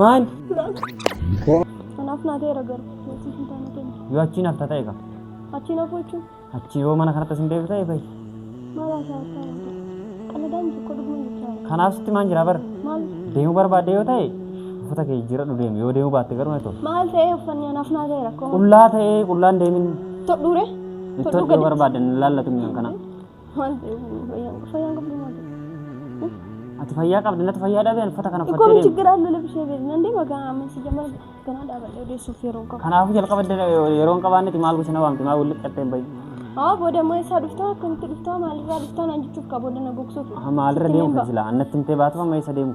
Maal? Kanaaf naa ta'eera garuu. Yookiin hin taane kenna. Yoo achiin hafta ta'e qaba. Achiin hafuu jechuun Achi yoo mana kanatti isin deebitu ta'e fa'i. maal haasaa haasaa haasaa. Qaladaan tokko dhuguma jechaa. Kanaaf sitti maan jira bara. Maal? Deemuu barbaadde yoo ta'e uffata kee jijjiiradhu deemi. Yoo deemuu baatte garuu na ta'u. Maal ta'ee uffanni anaaf naa ta'eera akkuma. Qullaa ta'ee qullaan deemin. Todhuure? ittoon yoo barbaadde hin laallatu mi'aan kana. Maal ta'eef fayyaan qabdu fayyaan qabdu maal ta'eef. Ati fayyaa qabda natti fayyaa dhabe ani uffata kana Ikkoon uffattee deemu. chiggiraan nu labsee beeku. Nan deema kan amma si jamal ganaa dhaabadhee odeessuuf yeroo hin qabu. Kanaafuu jalqaba dda- yeroo hin qabaannetti maal gosa na waamte maal walitti qattee hin bahi. Haa booda immoo eessaa dhuftaa akkamitti dhuftaa maalirraa dhuftaa naan jechuuf qaba booda na gogsuuf. Maalirra deemu kan silaa annatti himtee baatu amma eessa deemu.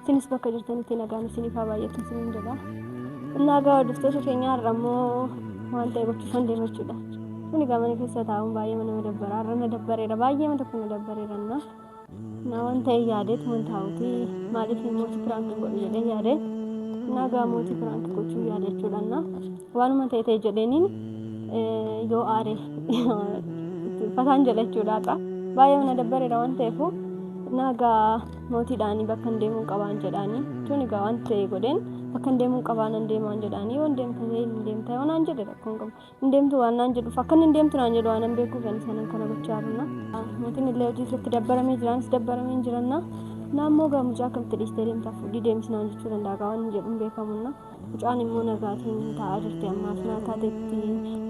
Isinis bakka jirtanitti nagaan isiniif haa baay'atu isiniin jedha. Innaa egaa hordoftoota keenya har'a immoo waan ta'e gochuu kan deemu jechuudha. Kun egaa mana keessa taa'uun baay'ee nama dabbara. Har'a na dabbareera baay'ee mana tokko na dabbareera na. Na waan ta'e yaadeet man taa'uti maaliif mootii piraank hin godhu jedhee yaade. Innaa egaa mootii piraank gochuu yaade jechuudha na. Waanuma ta'e ta'e jedheeniin yoo aare fataan jedha jechuudha har'a. Baay'ee mana dabbareera waan ta'eef nagaa Mootiidhaanii bakkan deemuun qabaan jedhaanii jechuun egaa waan ta'e godheen bakkan deemuun qabaan hin deemaan jedhaanii waan deemta ta'e hin deemta yoo naan jedhe rakkoon qabu hin deemtu waan naan jedhuuf akkan hin deemtu naan jedhu waan hin beekuuf ani sanan kana gochaa jirna. Mootiin illee hojii isatti dabbaramee jiraanis dabbaramee hin jiranna. Naammoo gaa mucaa akkamitti dhiistee deemtaaf fudhii deemis naan jechuu danda'a gaa waan hin jedhu hin beekamunna. Mucaan immoo nagaatiin taa'aa jirti ammaaf naa taatetti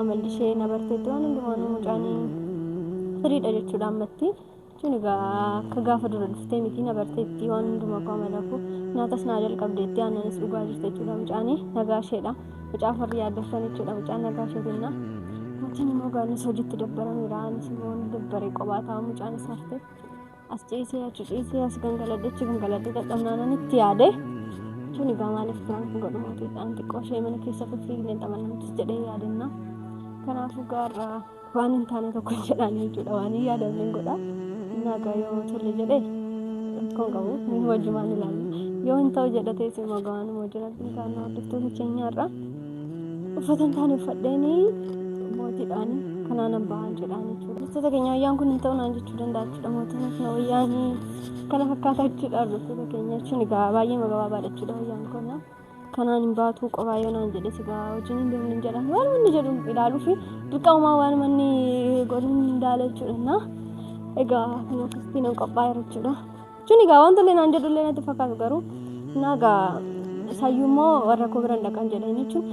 amalli ishee na barteetti waan hundumaan mucaan firiidha jechuudha ammatti. Jechuun egaa akka gaafa dura dhuftee miti na barteetti waan hundumaa koo amalakuu nyaatas naa jalqabdeetti aannanis dhugaa jirte jechuudha mucaani nagaa isheedha mucaa farri yaaddessan jechuudha mucaan nagaa ishee jenna maatiin immoo gaannis hojiitti dabbarameera anis immoo ni dabbare qophaa taa'aa mucaan is hafte as ciisee achi ciisee as gangaladhe achi gangaladhe dadhabnaanan itti yaade jechuun egaa maaliif biraan kun godhu mootiidhaan xiqqoo ishee mana keessa fiffiigneen taphannuutis jedhee yaadenna kanaafuu gaarraa waan hin taane tokko hin jedhaan jechuudha waan hin yaadamne hin godha naagaa yoo tole jedhe rakkoon qabu inni wajjumaan ilaalu yoo hin ta'u jedhe teessi immoo gawaan immoo jira kan hordoftoota keenyaarraa uffata hin taane uffadheeni mootiidhaan kanaan hin bahan jedhaan jechuudha hordoftoota keenya wayyaan kun hin ta'u naan jechuu danda'a jechuudha mootiin kun wayyaanii kana fakkaata jechuudha hordoftoota keenya jechuun egaa baay'ee magabaabaadha jechuudha wayyaan kun kanaan hin baatuu qobaa yoo naan jedhe sigaa wajjin hin deemne hin jedhan waan inni jedhu ilaaluu fi dirqamumaa waan manni godhu hin daala jechuudha. Egaa kan akkasitti nan qophaa'e jechuudha. Jechuun egaa wanta illee naan jedhu illee natti fakkaatu garuu naa egaa sayyuu immoo warra koo bira hin dhaqan jedhan jechuun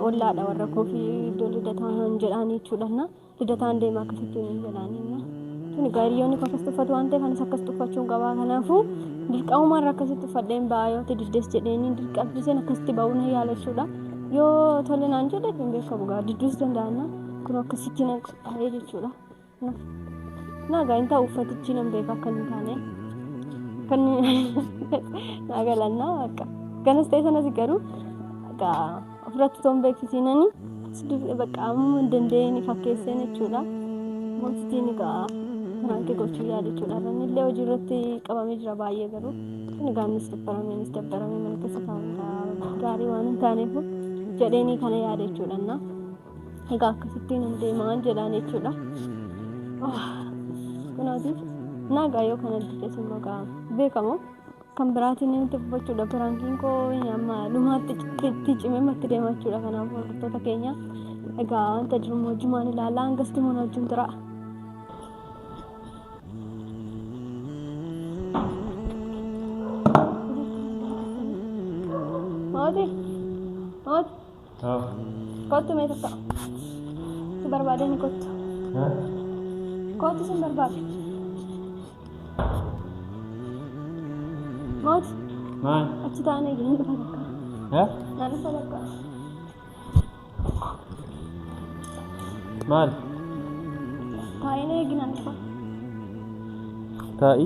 ollaadha warra koo fi iddoo lidataa hin jedhan jechuudha. Lidataan deema akkasittuu hin jedhaaniin. Tuni gaariyoonni koo akkas tuffatu waan ta'eef anis akkas tuffachuun qabaa kanaafuu dirqamumaan rakkasitti uffadheen ba'aa yoo diddes jedheenii dirqamsiiseen akkasitti ba'uu na yaala jechuudha. Yoo tole naan jedhe hin beekamu gaa didduus danda'anna kun akkasitti nan qophaa'ee jechuudha. Naagaa hin ta'u uffatichi nan beeka akka hin taane. Kan naa galannaa akka ganas ta'e sanas garuu Ofirratti toon beeksisiinani dubee bakka amma dandeenye fakkeesseen jechuudha. Mootitii ni ga'a. Maankii gochuu yaada jechuudha. Namni illee hojii irratti qabamee jira baay'ee garuu. Inni gaannis dabbarameenis dabbaramee mana keessa taa'uudha. Gaarii waan hin taaneef jedheenii kana yaada jechuudha. Na egaa akkasittiin hin deemaan jedhaan jechuudha. Kunaatiif nagaa yoo kana diddees immoo beekamu Kan biraatiin inni dubbachuudha piraankiin koo amma dhumaatti itti cimee matti deema jechuudha kanaaf hordoftoota keenya egaa wanta jiru moojumaan ilaalaa hangas timoon wajjin tura. Mooti! Mooti! Haa. Kottu mee tokko. Si barbaadee ni kottu. Haa. Kottu sin barbaade. Mooti Maal? achi taa'an eegi nan dhufa takka. Haa? Nan dhufa takka. Maal? Taa'een eegi nan dhufa. Taa'i.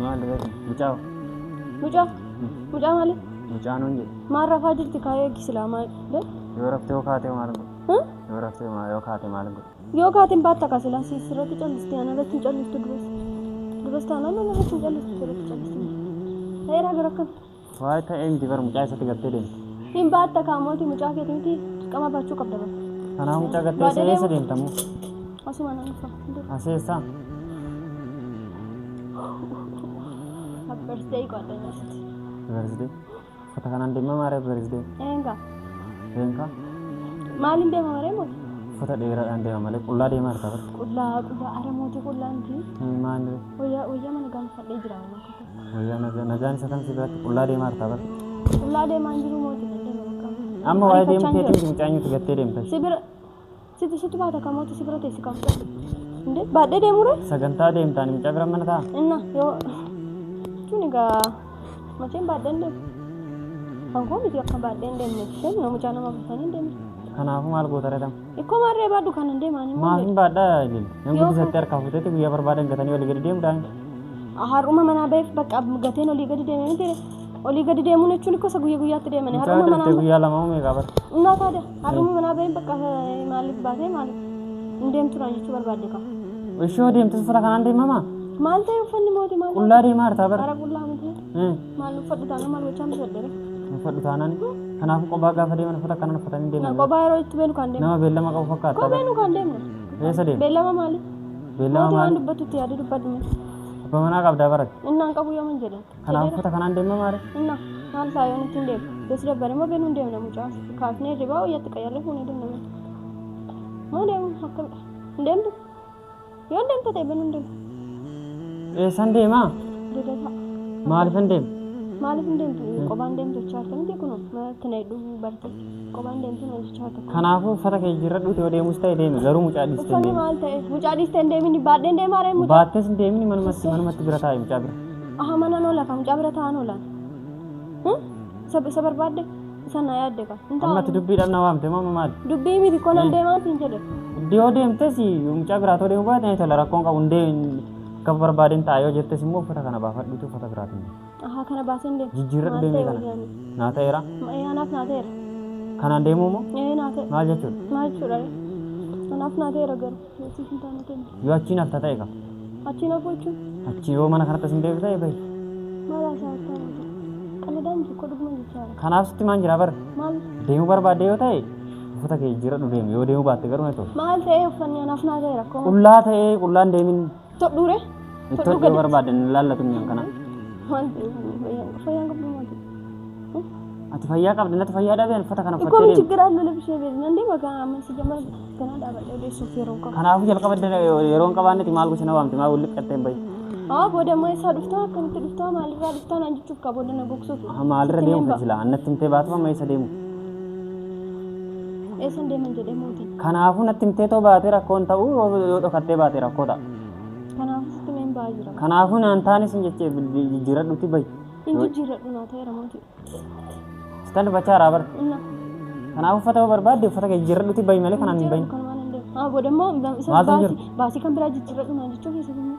Maal reefu? Mucaa hoo? Mucaa? Mucaa maali? Mucaa nuun jedhe. Maal rafaa jirti kaayee eegi silaa maal? Be? Yoo raftee yoo kaatee maal godhe? Huh? Yoo raftee maa- yoo kaatee maal godhe? Yoo kaatiin baatta kaa silaa siis irratti callisti ana irratti hin callistu duras. Duras taanaan ana irratti hin callistu irratti callisti. Ta'eeraa gara akkam? Waa'ee ta'e hin jibar mucaa isatti gattee deemte. Hin baatta kaa mootii mucaa keeti miti dirqama baachuu qabda bar. Kanaa mucaa gattee Baadhee isa eessa deemu. deemta moo? Asuma nan dhufa. Dur Asii eessa? abbarsee qo'adha nyaasitti. Beersdee. Uffata kanaan deemaa maaree beersdee. Eenga Deemka. maaliin deema maree mooti? Uffata dheeraadhaan deema malee qullaa deemaa harka bara. Qullaa qullaa ara mootii qullaa miti. Maaniree. Wayyaa wayyaa mana gaanfadhee jira amma akka Nagaan isa kan si biratti qullaa deemaa jirtaa bar. Qullaa deemaa hin jiru mootii nan deema bakka. Amma waa'ee deemuu Ariifachaan keetiin jira. mucaanyuutu gattee deemta. Si bira situ situ baata kan mootii si bira teessi kan fudhatu. Inde baadhee deemure Sagantaa deemtaan mucaa bira mana ta'a. inna yoo jechuun egaa macheen baadheen deemu. Kan koo miti akka baadheen deemne isheen yoo mucaa nama buusanii hin deemne. Kanaafuu maal goota redam? Ikkoo maarree baadhu kan hin deemaan immoo. Maaf hin baadhaa ilil. Nan Yoo guddisatti kan- harkaa futetti guyyaa barbaadan gatanii olii gadi deemu daangi. Har'uma manaa ba'eef bakka gateen olii gadi deeme miti. Olii gadi deemuun jechuun ikkoo isa guyya guyyaatti deemani. Mucaa Har'uma manaa turte guyyaa lama uumee qabar. Innaa taada har'uma manaa ba'een bakka eh, maaliif baatee maaliif hin deemtuudhaan jechuu barbaadde qaba. Ishoo deemtus uffata kanaan deemamaa? Maal ta'e uffanni mootii maal? Qullaa deemaa hartaa bara. Bara qullaa miti. Eh. Maal uffadhu taanaan maal gochaan uffadheera? Uffadhu taanaan kanaaf qobaa gaafa deeman uffata akkanaan uffatanii deeman. Qobaa yeroo itti beenu kan deemu. Nama beellama qabu fakkaata. Qobaa beenu kan deemu. Eessa deemu? Beellama maali? Beellama maali? Waan dubbatu itti yaadu dubbadhu. Abba manaa qabdaa barate. Innaan qabu yoo man jedhan. Kanaaf uffata kanaan deema maali? Inna maal ta'a yoo ittiin deemu? Yoo si dabbare immoo beenu hin deemna mucaa. Kaafnee ribaa wayyaatti qayyarree fuunee deemna. Moo deemu akkamidha? Hin deemtu? Yoon deemte ta'e banuun deema. Eessan deemaa? Lidataa. Maalifan deema? Maaliif hin deemtu? Qobaan deemtu jechaa jirta miti kunoo manatti na hidhuu barte. Qobaan deemtu na jechaa jirta. Kanaafuu uffata kee jijjiirradhu yoo deemus ta'e deemi garuu mucaa dhiistee hin Uffanni deemi. maal ta'e? Mucaa dhiistee hin deemini baadheen deemaa ree mucaa. Baattees hin deemini manumatti manumatti bira taa'i mucaa bira. Aha mana noo lafa mucaa bira taa'an oolaan. Isa isa barbaadde? Isa na yaadde ka. Hin Amma ati taa'u. dubbii dhabna waamte mama maali? Dubbii miti koo nan Maal? deemaa siin jedhe. Dhiyoo deemtes mucaa biraa too deemuu baate ni tola rakkoon qabu hundee akka barbaadeen ta'a yoo jettes immoo uffata kana baafadhuutu uffata biraatiin deema. Ahaa kana baaseen deema. Jijjiirradhu Maal deemee ta'e kana. wayyaanii? Naa ta'eera. Ma- ee, Anaaf naa ta'eera. Kanaan deemuu moo Ee naa ta'e. maal jechuudha? Maal jechuudha? Anaaf naa ta'eera garuu. Nasiif hin taane kenna. Yoo achiin hafta ta'e qaba. Achiin hafuu jechuun Achi yoo mana kanatti isin beeku ta'e bahi. maal haasaa akka hawwatu. Qalladaa miti koo dhuguma jechaa jira. Kanaaf sitti maan jira bar. Maal Deemuu barbaadde yoo ta'e uffata kee jijjiiradhu deemi. Yoo deemuu baatte garuu na ta'u. maal ta'ee uffanni anaaf naa ta'e rakkoo maal? Qullaa ta'ee qullaan deemin. Todhuu re. Itti hodhuu barbaadde hin ilaallatu inni akkana. Waan fayyaan qabdu maati. Ati fayyaa qabdi natti fayyaa dhabee uffata kana Ikoo uffattee mi deemte. chiggir allu labishee beeku. Nan deema kan amma si jamal ganaa dhaabadhee odeessuuf yeroo qabu. Kanaafuu jalqaba dana yeroo hin qabaannetti maal gosa na waamte maal walitti qattee hin bahi. Haa booda ammaa isaa dhuftaa akkamitti dhuftaa maalirraa dhuftaa naan jechuuf qaba booda na gogsuuf. Maalirra deemu kan silaa annatti himtee baatu amma eessa deemu. Eessan deeman jedhee mootiin. Kanaafuu natti himtee too baatee rakkoon ta'uu yoo dhokattee baatee rakkoo ta'a. Kanaafuu sitti mee hin ba'aa jira. Kanaafuu naan taanis hin jechee jijjiiradhuutti bahi. Hin jijjiirradhu naa ta'eera mootii. Sitan dubbachaa raabar. Inna. Kanaafuu uffata yoo barbaadde uffata kee jijjiiradhuutti bahi malee kanaan hin bahin. Kanumaan hin deemu. Haa booda immoo isa Maaltu hin baasii baasii kan biraa jijjiirradhu naan jechuu keessatti immoo.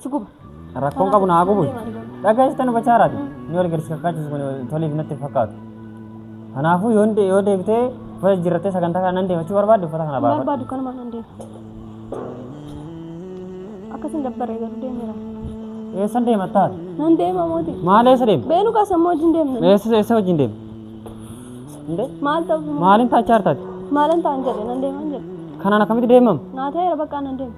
Si guba. Rakkoon qabu naa gubu. Dhagaa'istan bachaaraati. Ni wal garsi kakkaachisu kun toliif natti hin fakkaatu. Kanaafuu yoo de- yoo deebitee uffata jijjiirrattee sagantaa kana nan deemachuu barbaadde uffata kana baafadhu. Barbaadu kanuma nan deema. Akkasiin dabbaree garuu deemeera. Eessan deema taate? Nan deema mooti. Maal eessa deema? Beenu kaasa moo wajjin deemna. Eessa eessa wajjin deema? Indee? Maal ta'u? Maaliin taachaar taate? Maalan ta'an jedhe nan deeman jedhe. Kanaan akkamitti deemama? Naa ta'eera bakka nan deema.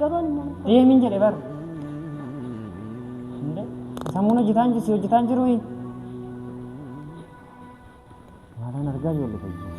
Gabaan immoo nuuf Ee min jedhe bar. Inde sammuun hojjetaan jirsi hojjetaan jiru. Maalaan argaa ijoollee fayyaa.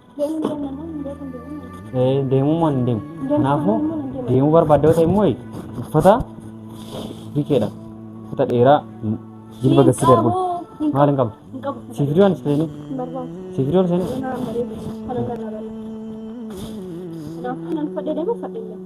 deemuu moo hin deemu kanaafuu deemuu barbaadda yoo ta'e immoo uffata bikeedha uffata dheeraa jilba gassi darbu maal hin qabdu siif hidhuu anis ta'e siif hidhuu anis ta'e Kanaafuu nan fadhe deema fadhe deema.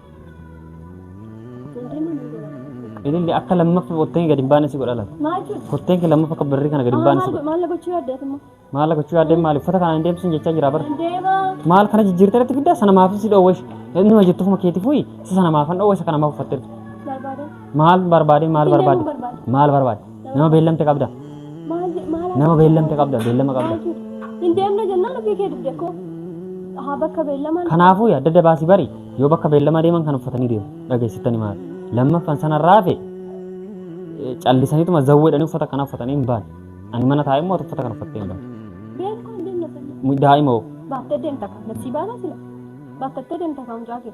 Ililli akka lammaffa kotteen gadi hin baane si godha laata? Maal jechuudha? Kotteen kee lammaffa akka barrii kana gadi hin baane si godha. Maal gochuu yaaddeet immoo? Maal gochuu yaadde maali? Uffata kana hin deebisin jechaa jira bara. Deema. Maal kana jijjiirtee irratti fiddaa sana maaf si dhoowwe ishi. Inni ma jettu ofuma keetii fuyi si sana maaf hin dhoowwe isa kana maaf uffatte jirtu? Barbaada. Maal barbaade maal Hin deemuu barbaade? barbaada. Maal barbaade? Nama beellamte qabda. Maal je- maal Nama haasa'u? beellamte qabda, beellama qabda. Maal jedhu? Hin deemna jennaan ofii kee dibde koo. Haa bakka beellamaan. Kanaafuu adda adda baasii bari yoo bakka beellamaa deeman kan uffatanii deemu dhageessittani maal. Lammaffan sanarraa hafe eh, callisaniituma zawweedhanii uffata kana uffatanii hin baane. Ani mana taa'ee immoo uffata kana uffattee hin baane. Beeku hin deemna jennaan. Mu- Daa'ima hoo Baattee deemta kan. Nabsii baanaa sila. Baattattee deemta kan mucaa kee.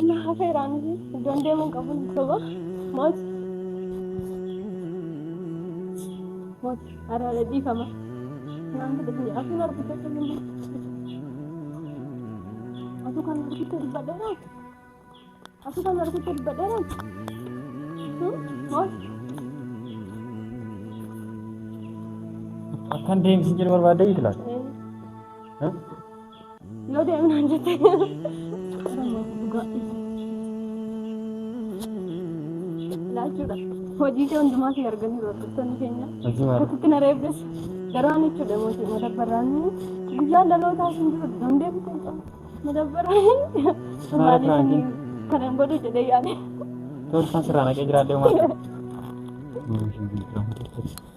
Inni hafeera miti iddoon deemuun qabu hin soba. Moot. Moot. Araara dhiifama. Naan fudhatu jedha. Asuun argicha kan hin Asu kan argicha dubbadheera. Asu kan argicha dubbadheera. Moot. Akkan deemsi jedhu barbaadde itti laata? Ee. Yoo deemu naan jette. Laachuudha. Hojii kee hundumaa kee arganii hordoftoonni keenya. Hojii maal? Akkasitti na reebdes. Garuu ani jechuudha mootii madabbaraan guyyaa dhalootaa hin jiru dandeetti ta'e. Madabbaraan Maal maaliif kan hin godhu jedhee yaade. Tolfan sirraa naqee jiraadhee maal?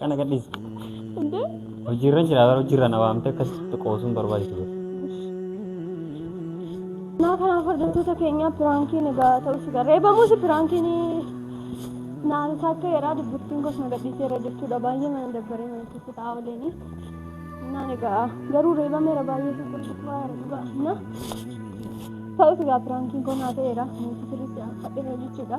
Kana gadhiisa. Hojiirra jira bara hojiirra na waamte akkasitti qoosuun barbaachisu jira. Naa kanaaf hordoftoota keenyaa piraankiin egaa ta'us egaa reebamuus piraankiin naan isaa akka jedhaa dubbittiin gosa na gadhiiseera jechuudha baay'ee mana dabbaree mana keessa taa'aa oleenii naan egaa garuu reebameera baay'ee tokkoffaa dhugaa na ta'us egaa piraankiin kun naa ta'eera nuti sirriitti fadheera jechuudha.